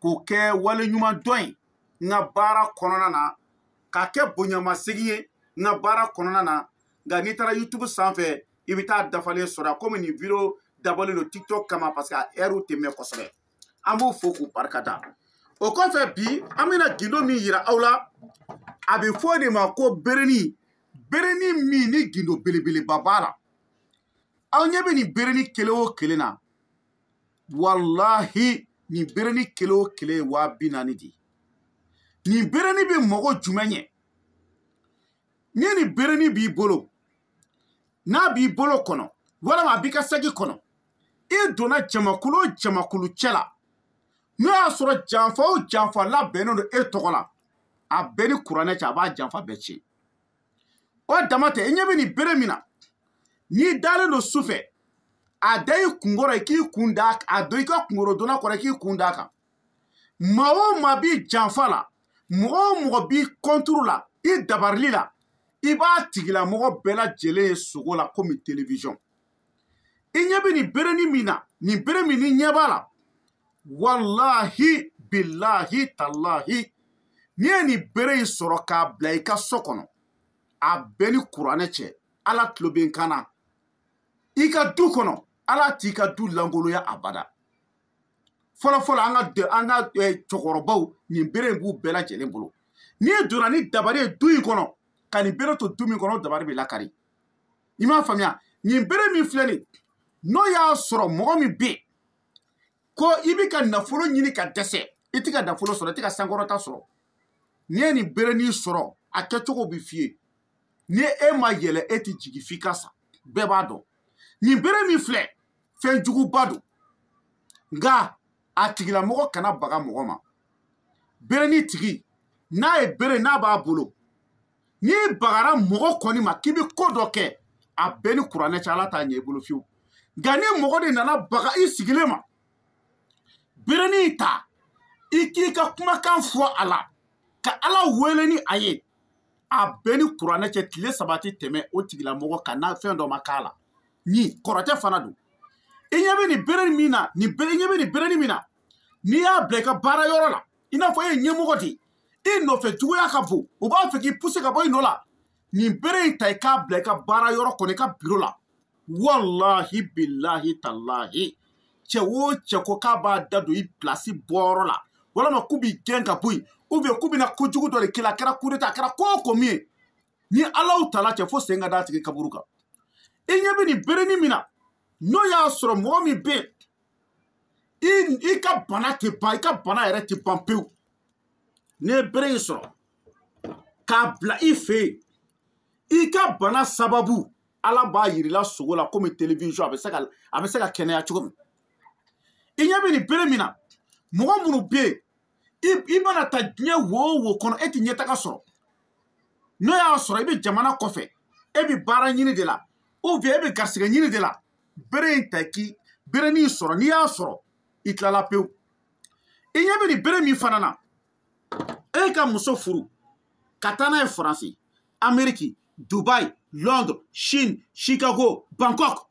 k'o kɛ waleɲumandɔn ye n ka baara kɔnɔna na k'a kɛ bonyamasegin ye n ka baara kɔnɔna na nka n'i taara youtube sanfɛ i bɛ taa dafalen sɔrɔ a komi nin video dabɔlen don tiktok kama parce que a ɛriw tɛ mɛn kosɛbɛ an b'u fo k'u barika da o kɔfɛ bi an bɛna gindo min yira aw la a bɛ fɔ o de ma ko bereni bereni min ni gindo belebeleba b'a la aw ɲɛ bɛ nin bereni kelen o kelen na walahi nin bereni kelen o kelen ye waa bi naani de ye nin bereni bɛ mɔgɔ jumɛn ɲɛ ni nin bereni b'i bolo n'a b'i bolo kɔnɔ walama a b'i ka saki kɔnɔ i donna jamakulu o jamakulu cɛ la n'o y'a sɔrɔ janfa o janfa labɛnnen don e tɔgɔ la a bɛ n ni kuranɛ cɛ a b'a janfa bɛɛ tiɲɛ o dama tɛ i ɲɛ bɛ nin bere min na n'i dalen don su fɛ a da i kunkɔrɔ i k'i kun da a don i ka kunkɔrɔdonnan kɔrɔ i k'i kun d'a kan maa o maa b'i janfa la mɔgɔ o mɔgɔ b'i kɔnturu la i dabarili la i b'a tigilamɔgɔ bɛɛ lajɛlen ye sugo la komi telewisɔn i ɲɛ bɛ nin bereni min na nin bere min n'i ɲɛ b'a la walahi bilahi talahi n'i ye nin bere in sɔrɔ k'a bila i ka so kɔnɔ a bɛ n ni kuranɛ cɛ ala tulo bɛ n kan na i ka du kɔnɔ ala t'i ka du lankoloya abada fɔlɔfɔlɔ an ka an ka cɛkɔrɔbaw nin bere in b'u bɛɛ lajɛlen bolo n'i donna ni dabari ye du in kɔnɔ ka nin bere to du min kɔnɔ dabari bɛ lakari i m'a faamuya nin bere min filɛ nin n'o y'a sɔrɔ mɔgɔ min bɛ yen ko i bɛ ka nafolo ɲini ka dɛsɛ i tɛ ka nafolo sɔrɔ i tɛ ka sankɔrɔta sɔrɔ n'i ye nin berenin sɔrɔ a kɛcogo bɛ f'i ye ni e ma yɛlɛn e tɛ jigin f'i ka sa bɛɛ b'a dɔn nin bere min filɛ fɛn juguba don nka a tigilamɔgɔ kana baga mɔgɔ ma berenin tigi n'a ye bere n'a b'a bolo n'i bagara mɔgɔ kɔni ma k'i bɛ ko dɔ kɛ a bɛ n ni kuranɛ cɛ ala t'a ɲɛ i bolo fiyewu nka ni mɔgɔ de nana baga i sigilen ma berenin ta i k'i ka kumakan fɔ a la ka ala wele ni a ye a bɛ n ni kuranɛ cɛ tile saba tɛ tɛmɛ o tigilamɔgɔ kan n'a fɛn dɔ ma k'a la ni kɔrɔtɛ fana don i ɲɛ bɛ nin berenin min na i ɲɛ bɛ nin berenin min na n'i y'a bila i ka baara yɔrɔ la i n'a fɔ e ye ɲɛmɔgɔ de ye e nɔfɛ juguya ka bon u b'a fɛ k'i puse ka bɔ i nɔ la nin bere in ta i k'a bila i ka baara yɔrɔ kɔnɔ i ka biro la walahi bilahi talahi cɛ o cɛ ko k'a b'a da don i pilasi bɔyɔrɔ la walama k'u b'i gɛn ka bɔ yen ubiyɛn k'u bɛna ko jugu dɔ de k'i la a kɛra kudeta a kɛra ko o ko min ye n ni alahu taala cɛ fo sen ka d'a tigi kaburu kan i ɲɛ bɛ nin berenin min na n'o y'a sɔrɔ mɔgɔ min bɛ yen i i ka bana tɛ ban i ka bana yɛrɛ tɛ ban pewu n'i ye bere in sɔrɔ k'a bila i fɛ yen i ka bana sababu ala b'a yir'i la sugo la komi television a bɛ se ka a bɛ se ka kɛnɛya cogo min i ɲɛ bɛ nin bere min na mɔgɔ minnu bɛ yen i mana taa diɲɛ wo o wo kɔnɔ e tɛ ɲɛtaga sɔrɔ n'o y'a sɔrɔ i bɛ jamana kɔfɛ e bɛ baara ɲini de la ou bien e bɛ garisigɛ ɲini de la bere in ta k'i berenin sɔrɔ n'i y'a sɔrɔ i tilala pewu i ɲɛ bɛ nin bere min fana na e ka muso furu ka taa n'a ye faransi ameriki dubai londres chine chicago bangkok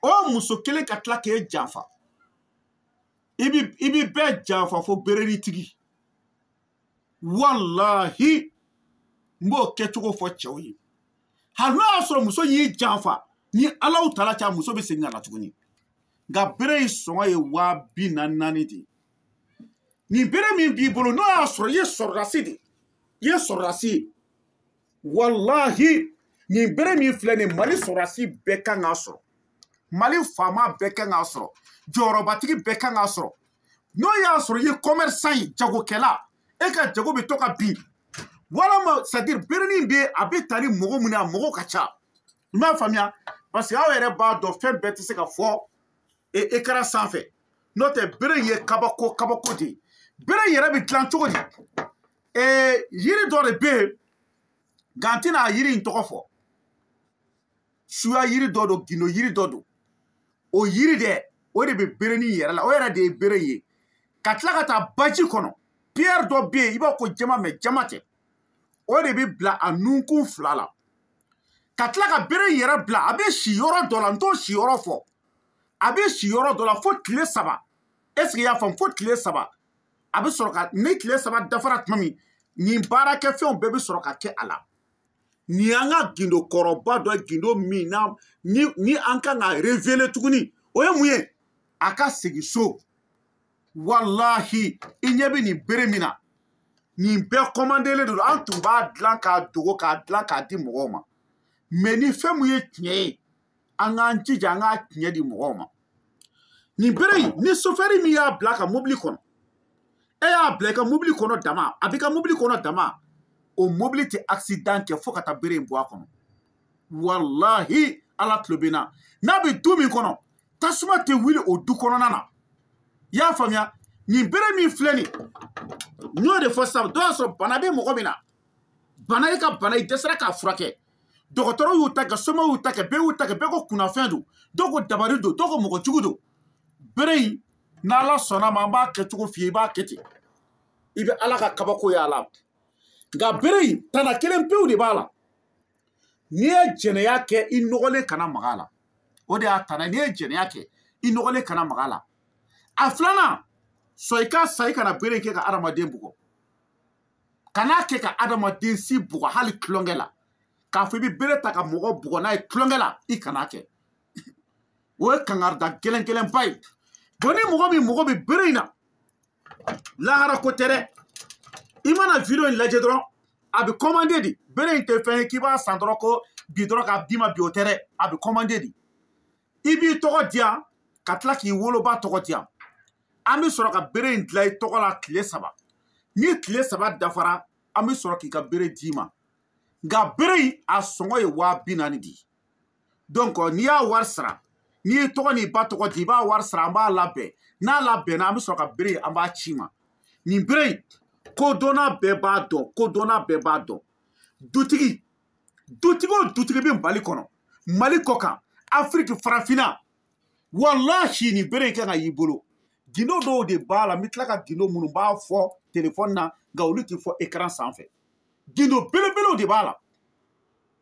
o muso kelen ka tila k'e janfa i bi i bi bɛɛ janfa fo berenin tigi walahi n b'o kɛcogo fɔ cɛw ye hali n'o y'a sɔrɔ muso y'i janfa ni alahu taala cɛ muso bɛ segin ka na tuguni nka bere in sɔngɔ ye waa bi naani naani de ye nin bere min b'i bolo n'o y'a sɔrɔ i ye sɔrɔdasi de ye i ye sɔrɔdasi ye walahi nin bere min filɛ nin mali sɔrɔdasi bɛɛ kan k'a sɔrɔ mali faama bɛɛ kan k'a sɔrɔ jɔyɔrɔbatigi bɛɛ kan k'a sɔrɔ n'o y'a sɔrɔ i ye kɔmɛrisan ye jagokɛla e ka jago bɛ to ka bin walama c'est-à-dire berenin bɛ a bɛ taa ni mɔgɔ min ye a mɔgɔ ka ca i m'a faamuya parce que aw yɛrɛ b'a dɔn fɛn bɛɛ tɛ se ka fɔ écran sanfɛ n'o tɛ bere ye kabako kabako de ye bere yɛrɛ bɛ dilan cogo di ee yiri dɔ de bɛ yen nka n tɛna a yiri in tɔgɔ fɔ suya yiri dɔ don gindo yiri dɔ don o yiri dɛ o de bɛ berenin yɛrɛ la o yɛrɛ de ye bere ye ka tila ka taa baji kɔnɔ pierre dɔ bɛ yen i b'a ko diamant mais diamant tɛ o de bɛ bila a nunkun fila la ka tila ka bere in yɛrɛ bila a bɛ si yɔrɔ dɔ la n t'o si yɔrɔ fɔ a bɛ si yɔrɔ dɔ la fo tile saba est-ce que i y'a faamu fo tile saba a bɛ sɔrɔ ka ni tile saba dafara tuma min nin baarakɛfɛnw bɛɛ bɛ sɔrɔ ka kɛ a la nin y'an ka gindo kɔrɔba dɔ ye gindo min na ni ni an kan ka révéler tuguni o ye mun ye a ka segin so walahi i ɲɛ bɛ nin bere min na nin bɛɛ kɔmandelen don an tun b'a dilan k'a dogo k'a dilan k'a di mɔgɔw ma mais ni fɛn min ye tiɲɛ ye an k'an jija an k'a tiɲɛ di mɔgɔw ma nin bere in ni sofɛri min y'a bila a ka mobili kɔnɔ e y'a bila i ka mobili kɔnɔ dama a b'i ka mobili kɔnɔ dama o mobili tɛ accident kɛ fo ka taa bere in bɔ a kɔnɔ walahi ala tulo bɛ n na n'a bɛ du min kɔnɔ tasuma tɛ wuli o du kɔnɔna na i y'a faamuya nin bere min filɛ nin n y'o de fɔ sisan dɔw y'a sɔrɔ bana bɛ mɔgɔ min na bana i ka bana i dɛsɛra k'a furakɛ dɔgɔtɔrɔ y'u ta kɛ soma y'u ta kɛ bɛɛ y'u ta kɛ bɛɛ ko kunnafɛn don dɔw ko dabari don dɔw ko mɔgɔ jugu don bere in n'ala sɔnna ma an b'a kɛcogo f'i ye i b'a kɛ ten i bɛ ala ka kabako y'a la nka bere in tana kelen pewu de b'a la n'i ye jɛnɛya kɛ i nɔgɔlen kana maga a la o de y'a tana n'i ye jɛnɛya kɛ i nɔgɔlen kana maga a la a filanan sɔn i ka sa i kana bere in kɛ ka hadamaden bugɔ kan'a kɛ ka adamaden si bugɔ hali tulonkɛ la k'a fɔ i bɛ bere ta ka mɔgɔ bugɔ n'a ye tulonkɛ la i kan'a kɛ o ye kangarida gɛlɛn gɛlɛnba ye bon ni mɔgɔ min mago bɛ bere in na lahara ko tɛ dɛ i mana video in lajɛ dɔrɔn a bɛ kɔmande di bere in tɛ fɛn ye k'i b'a san dɔrɔn ko bi dɔrɔn k'a d'i ma bi o tɛ dɛ a bɛ kɔmande di i b'i tɔgɔ di yan ka tila k'i woloba tɔgɔ di yan an bɛ sɔrɔ ka bere in dilan i tɔgɔ la tile saba ni tile saba dafara an bɛ sɔrɔ k'i ka bere d'i ma nka bere in a sɔngɔ ye waa bi naani de ye donc n'i y'a wari sara n'i y'i tɔgɔ n'i ba tɔgɔ di i b'a wari sara an b'a labɛn n'a labɛnna an bɛ sɔrɔ ka bere in an b'a c'i ma nin bere in kodɔnna bɛɛ b'a dɔn kodɔnna bɛɛ b'a dɔn dutigi dutigi o dutigi bɛ mali kɔnɔ mali kɔkan afiriki farafinna walahi nin bere in kan ka y'i bolo gindo dɔw de b'a la n bɛ tila ka gindo minnu b'a fɔ telefɔni na nka olu tɛ fɔ ekaran sanfɛ gindo belebelew de b'a la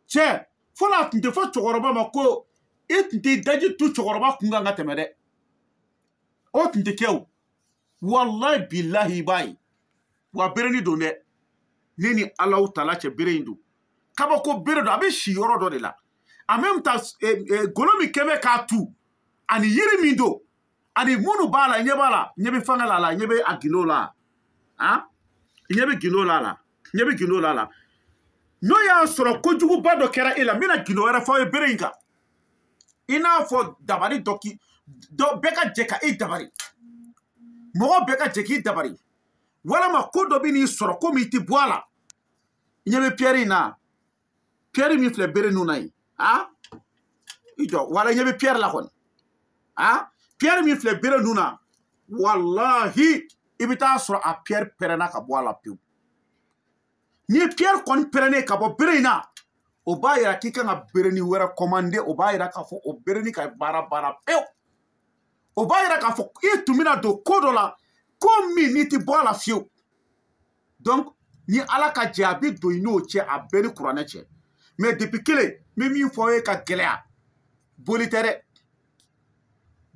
cɛ fɔlɔ a tun tɛ fɔ cɛkɔrɔba ma ko i tun tɛ daji tu cɛkɔrɔba kun kan ka tɛmɛ dɛ o tun tɛ kɛ o walayi bilahi i b'a ye wa bereni don dɛ ne ni alahu taala cɛ bereni don kabako bere don a bɛ si yɔrɔ dɔ de la en même temps eh, eh, golo min kɛ bɛ k'a tu ani yiri min don ani minnu b'a la i ɲɛ b'a la ɲɛ bɛ fanga la a la ɲɛ bɛ a gindo la han ɲɛ bɛ gindo la a la ɲɛ bɛ gindo la a la n'o y'a sɔrɔ kojuguba dɔ kɛra e la n bɛna gindo wɛrɛ fɔ aw ye bere in kan i n'a fɔ dabali dɔ k'i dɔ bɛɛ ka jɛ ka i dabari mɔgɔ bɛɛ ka jɛ k'i dabari walama ko dɔ bɛn'i sɔrɔ ko min i tɛ bɔ a la i ɲɛ bɛ piyɛri in na piyɛri min filɛ bere nun na yen a i jɔ wala i ɲɛ bɛ piyɛri la kɔni a piyɛri min filɛ bere nun na walahi i bɛ taa sɔrɔ a piyɛri pɛrɛnna ka bɔ a la pewu ni piyɛri kɔni pɛrɛnnen ka bɔ bere in na o b'a yira k'i kan ka bereni wɛrɛ kɔmande o b'a yira k'a fɔ o bereni ka baara banna pewu o b'a yira k'a fɔ i tun bɛna don ko dɔ la ko min n'i tɛ bɔ a la fiyewu donc ni ala ka jɛ a bɛ don i n'o cɛ a bɛɛ ni kuranɛ cɛ mais depuis kelen n bɛ min fɔ aw ye ka gɛlɛya boli tɛ dɛ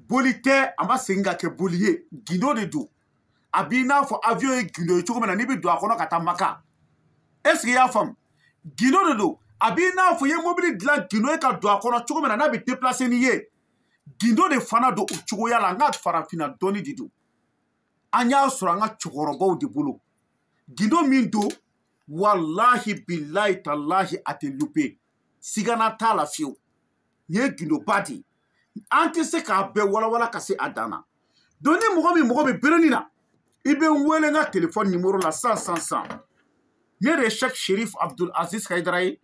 boli tɛ a ma segin ka kɛ boli ye gindo de don a b'i n'a fɔ avion ye gindo ye cogo min na n'i bɛ don a kɔnɔ ka taa maka est ce que i y'a faamu gindo de don a b'i n'a fɔ i ye mobili dilan gindo ye ka don a kɔnɔ cogo min na n'a bɛ déplacer n'i ye gindo de fana don o cogoya la an ka farafinna dɔnni de don an y'a sɔrɔ an ka cɛkɔrɔbaw de bolo gindo min don walahi bilahi talahi a tɛ louper sigana t'a la fiyewu nin ye gindoba de ye an tɛ se k'a bɛɛ walawala ka se a dan na donc ni mɔgɔ min mago bɛ bereni na i bɛ n wele n ka telefɔni nimoro la san san san ne de ye sɛk sherif abdul aziz hayidara ye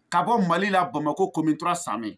ka bɔ mali la bamako commune trois samɛ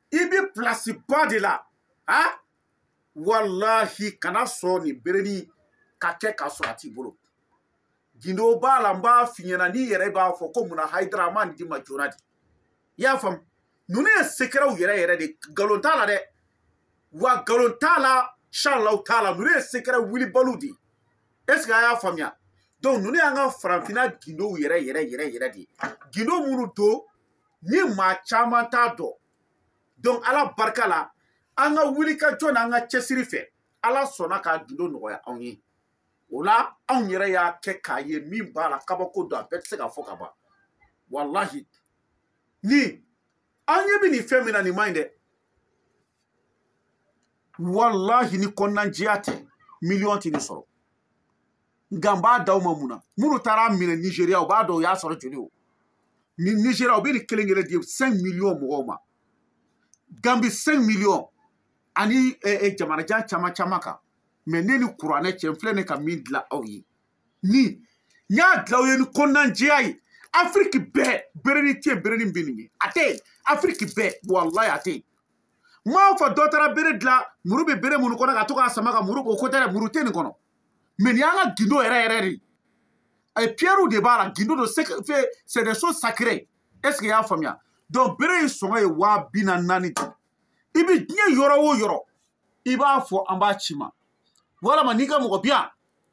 i bɛ pilasi ba de la a walahi kana sɔn nin bereni ka kɛ k'a sɔrɔ a t'i bolo gindo b'a la n b'a f'i ɲɛna n'i yɛrɛ b'a fɔ ko munna hayidara a ma nin di ma joona de i y'a faamu ninnu ye sekɛrɛw yɛrɛ yɛrɛ de nkalon t'a la dɛ wa nkalon t'a la inshalahu taala ninnu ye sekɛrɛ wulibaliw de ye est ce que a y'a faamuya donc ninnu y'an ka farafinna gindow yɛrɛ yɛrɛ yɛrɛ yɛrɛ de ye gindo minnu don ni maa caman t'a dɔn donc ala barika la an ka wulikajɔ n'an ka cɛsiri fɛ ala sɔnna k'a gindo nɔgɔya anw ye o la anw yɛrɛ y'a kɛ k'a ye min b'a la kabako don a bɛɛ tɛ se ka fɔ ka ban walahi ni an ɲɛ bɛ nin fɛn min na nin man ɲi dɛ walahi ni kɔnɔnajɛya tɛ miliyɔn tɛ nin sɔrɔ nka n b'a d'aw ma mun na minnu taara a minɛ nizeriya u b'a dɔn u y'a sɔrɔ joli o ni nizeriya u bɛ nin kelen kelen di cinq miliyɔn mɔgɔw ma gambi cinq miliyɔn ani eh, eh, jamanajan caman caman kan mais ne ni kuranɛ cɛ n filɛ ne ka min dilan aw ye ni n y'a dilan aw ye ni kɔnɔnajɛya ye afiriki bɛɛ bereni tɛ yen bereni bɛ nin ye a tɛ yen afiriki bɛɛ walahi a tɛ yen n m'a fɔ dɔ taara bere dilan muru bɛ bere minnu kɔnɔ ka to k'a sama ka muru o ko tɛ dɛ muru tɛ nin kɔnɔ mais nin y'an ka gindo yɛrɛ yɛrɛ de a ye piyɛriw de b'a la gindo don c'est des choses sacrées est ce que i y'a faamuya donc bere in sɔngɔ ye waa bi na naani de i bɛ diɲɛ yɔrɔ o yɔrɔ i b'a fɔ an b'a c'i ma walama n'i ka mɔgɔ bi yan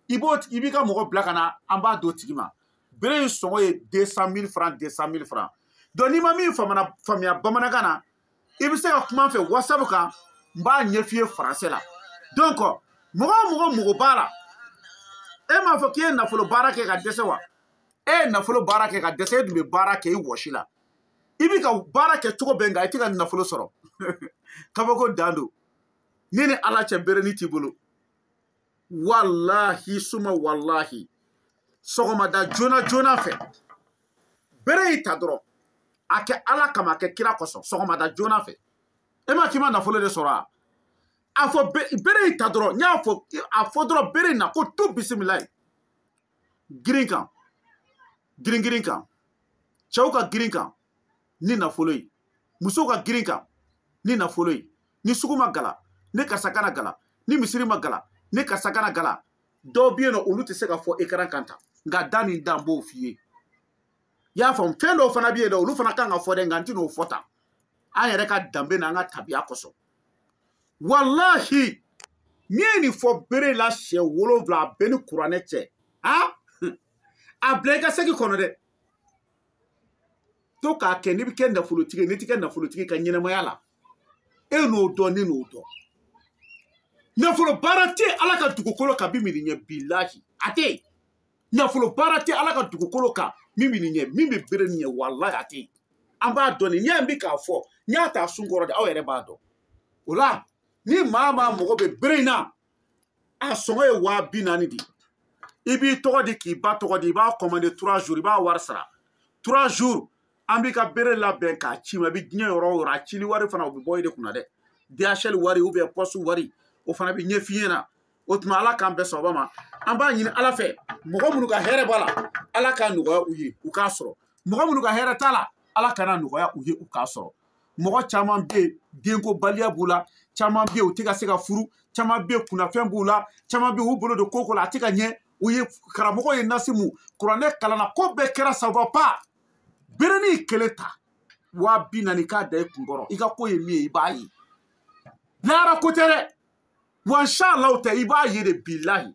i b'i ka mɔgɔ bila ka na an b'a d'o tigi ma bere in sɔngɔ ye deux cent mille francs deux cent mille francs donc n'i ma min faamuya bamanankan na i bɛ se ka kuma n fɛ wasabu kan n b'a ɲɛf'i ye faransɛ la donc mɔgɔ o mɔgɔ mago b'a la e m'a fɔ k'i ye nafolo baara kɛ ka dɛsɛ wa e ye nafolo baara kɛ ka dɛsɛ e dun bɛ baara kɛ i wɔsi la i bɛ ka baara kɛ cogo bɛɛ nka i tɛ ka nafolo sɔrɔ kabako dan don ne ni ala cɛ bere nin t'i bolo walahi suma walahi sɔgɔmada joona joona fɛ bere in ta dɔrɔn a kɛ ala kama a kɛ kira kosɔn sɔgɔmada joona fɛ e ma k'i ma nafolo de sɔrɔ wa a fɔ bere in ta dɔrɔn n y'a fɔ a fɔ dɔrɔn bere in na ko tu bisimilayi girin kan girin girin kan cɛw ka girin kan ni nafolo ye musow ka girin kan ni nafolo ye ni sugu ma gala ni karisa kana gala ni misiri ma gala ni karisa kana gala dɔw bɛ yen nɔ olu tɛ se ka fɔ ekaran kan tan nka da ni da n b'o f'i ye i y'a faamu fɛn dɔw fana bɛ yen nɔ olu fana kan ka fɔ dɛ nka n tɛn'o fɔ tan an yɛrɛ ka danbe n'an ka tabiya kosɔn walahi n'i ye nin fɔ bere la siɲɛ wolonwula a bɛ n ni kuranɛ cɛ a a bila i ka segi kɔnɔ dɛ to k'a kɛ n'i bɛ kɛ nafolotigi ye n'i ti kɛ nafolotigi ka ɲɛnamaya la e n'o dɔn ne n'o dɔn nafolo baara tɛ ala ka dugukolo kan min bɛ nin ɲɛ bilahi a tɛ yen nafolo baara tɛ ala ka dugukolo kan min bɛ nin ɲɛ min bɛ bere nin ɲɛ walahi a tɛ yen an b'a dɔn nin ɲɛ in bɛ k'a fɔ n y'a ta sun kɔrɔ de aw yɛrɛ b'a dɔn o la ni maa maa mago bɛ bere in na a sɔngɔ ye waa bi naani de ye i b'i tɔgɔ di k'i ba tɔgɔ di i b'a kɔmande trois jours i b'a wari sara trois jours an b'i ka bere labɛn k'a c'i ma i bɛ diɲɛ yɔrɔ o yɔrɔ a cili wari fana o bɛ bɔ i de kunna dɛ dhl wari ou bien poste wari o fana bɛ ɲɛf'i ɲɛna o tuma ala k'an bɛɛ sababa ma an b'a ɲini ala fɛ mɔgɔ minnu ka hɛrɛ b'a la ala k'a nɔgɔya u ye u k'a sɔrɔ mɔgɔ minnu ka hɛrɛ t'a la ala kan'a nɔgɔya u ye u k'a sɔrɔ mɔgɔ caman bɛ yen denkobaliya b'u la caman bɛ yen u tɛ ka se ka furu caman bɛ yen kunnafɛn b'u la caman bɛ yen u bolo don ko o ko la a tɛ ka ɲɛ u ye karamɔgɔ ye nasi mu kuranɛ kalanna ko bɛɛ kɛra ça va pas berenin kelen ta waa bi naani k'a da i kun kɔrɔ i ka ko ye min ye i b'a ye lahara ko tɛ dɛ wa inshallah tɛ i b'a ye de bilahi